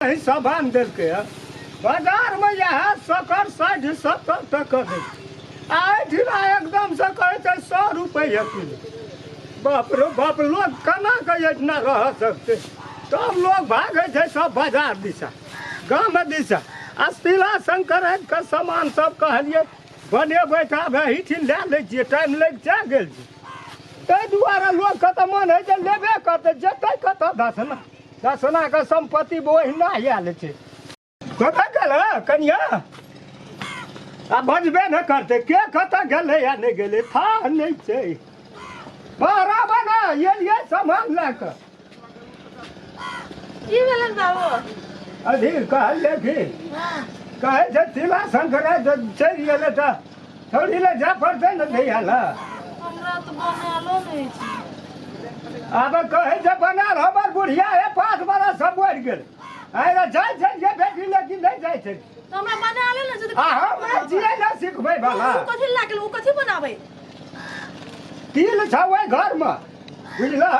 एहि सभान देलकै हँ बाजारमे इएह सकर साठि सत्तर तक दै आ एहिठिना एकदमसँ कहै छै सए रुपैआ किलो बाप रे बाप लोक केना कऽ एहिठिना रह सकतै तब लोक भागै छै सब बाजार दिशा गाम दिशा आ तिला संक्रान्तिके सामान सब कहलियै बनेबै तऽ आब एहिठिन लए लै छियै टाइम लागि जा गेल छै ताहि दुआरे लोकके तऽ मन होइ छै लेबे करतै जेतै कतऽ दस ने दसनाके सम्पत्ति ओहिना आयल छै कतऽ गेल कनिया आ बजबे ने करते के कतऽ गेलै या नहि गेलै था नहि छै बारह बना एलियै सामान लए कऽ की भेलन बाबू अधीर कहलियै कि कहै छै तिला संक्रान्ति चलि गेलै तऽ छोड़ी ले जा पड़ते न भैया ला हमरा तो बनालो नहीं छी अब कहे जे बनाल हमर बुढ़िया है पाँच बरस सब बढ़ गेल आइरा जाइ छै जे बेटी लेकिन नहीं जाइ छै तो हमरा बनाले नहीं छी तो आ हम जिए न सिखबै भला उ कथी लागल उ कथी बनाबै तिल छौ ओइ घर में बुझलह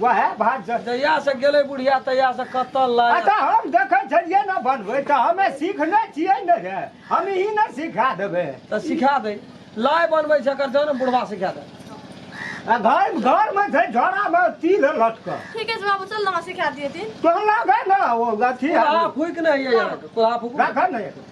वएह भाग जड़ जहिया से गेलै बुढ़िया तहिया से कतऽ लाय अच्छा हम देखै छलियै ने बनबै तऽ हमे सीखने छियै ने रे हम ई ने सिखा देबै तऽ सिखा दे लाय बनबै छै एकर जान बुढ़वा सिखा दे आ घर घरमे छै झोरामे तिल लटकऽ ठीके छै बाबू चल ने हमरा सिखा दिए दिन तोहर लागै ने ओ अथी कुल्हा फूक नहि है यार कुल्हा फूक रखऽ ने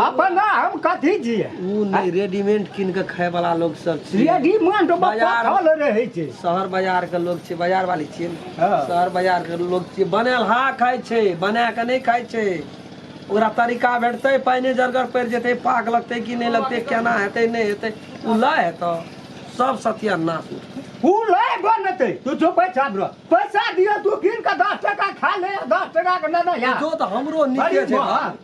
अपना हम कथी छियै ऊ नहि रेडीमेड कीन कऽ खाय वाला लोग सब छै रेडीमेड बाजार- बकल रहै छै शहर बाजार के लोग छै बाजार वाली छियै ने। हाँ। शहर बाजार के लोग छियै बनेलहा खाय छै बना के नहि खाय छै ओकरा तरीका भेटतै पानिए जरगर पड़ि जेतै पाक लगतै कि नहि लगतै केना हेतै नहि हेतै ओ लय हेतौ सब सत्या नाश उठतै ओ लै बनतै तू जो पैसा दो पैसा दियो तू कीन के दस टका खा ले दस टका के ना ना यार जो तऽ हमरो नीके अरे छै वाह।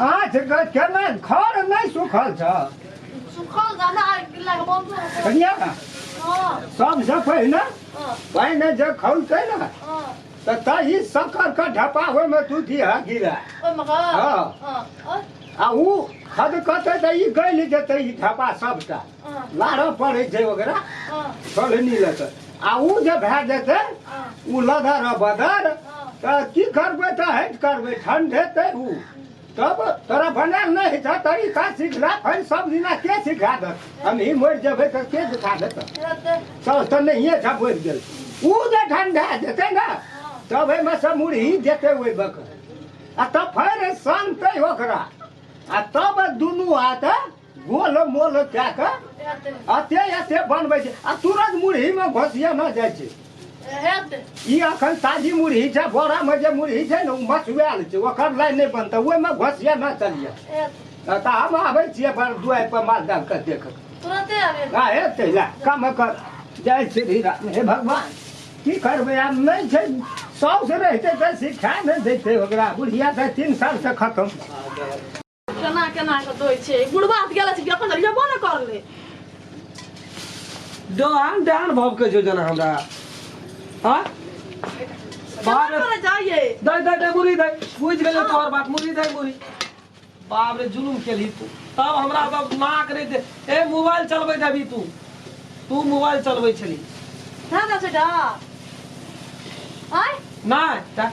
आज केना घर नहि सुखल छ सुखल जाना आ किल्ला के बंद हो कनिया हां सबसे पहिने पहिने जे खौलते ने हां त तही सकर के ढपा होय में तू दिया गिरा ओय में हां हां आ ऊ खद कते त ई गइल जेते ई ढपा सबटा लाड़ो पड़ै छै ओकरा छोड़े नहि लेतै आ ओ जे भए जेतै ओ लदर आ बदर तऽ की करबै तऽ हट करबै ठंड हेतै ओ तब तोरा बनायल नहि होइ छै तरीका सिखला फेर सब दिना के सिखा देत हमही मरि जेबै तऽ के सिखा देतै सब तऽ नहिए छै मरि गेल ओ जे ठंडा जेतै ने तब एहिमे से मुरही जेतै ओहि बकर आ तब फेर शांतै ओकरा आ तब दुनू हाथ गोल मोल कए कऽ एते एते बनबै छै आ तुरंत मुरहीमे घोसिया न जाइ छै ई अखन ताजी मुरही छै बोरामे जे मुरही छै ने ओ मचुआएल छै ओकर लाइन नहि बनतै ओहिमे घोसिया न चलिए तऽ हम आबै छियै पर दुआइ पर माल जाल के देख तुरंते आबे आ हेतै लए कम कर जाइ छै धीरा हे भगवान की करबै आब नहि छै साउस रहिते तऽ सिखा नहि देतै ओकरा बुढ़िया तऽ तीन सालसँ खतम केना केना के दै छै बुढ़बा हाथ गेला छै कि अपन लेबो ने करले डान डान भव के जो जना हमरा हां केना करे जाइए दई दई दई मुरी दई बुझ गेले तोहर बात मुरी दई मुरी बाप रे जुलुम केली तू तब हमरा तब नाक रे दे ए मोबाइल चलबै देबी तू तू मोबाइल चलबै छली हाँ ना बेटा आय नहीं ता-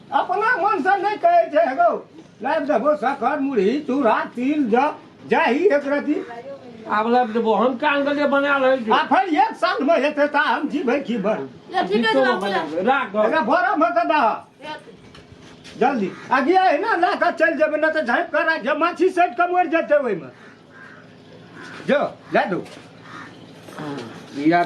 अपना मन से नहीं कहे जे हेगो लाइव देबो सकर मुरही चूड़ा तिल ज जाही एक रति आब लाइव देबो हम का अंगले बना रहे छी आ फिर एक साल में हेते ता हम जीबे की भर राख एका भरा में त दा जल्दी आगे है ना ला का चल जेबे ना त झाइप करा जे माछी सेट के मर जेते ओइ में जो ला दो यार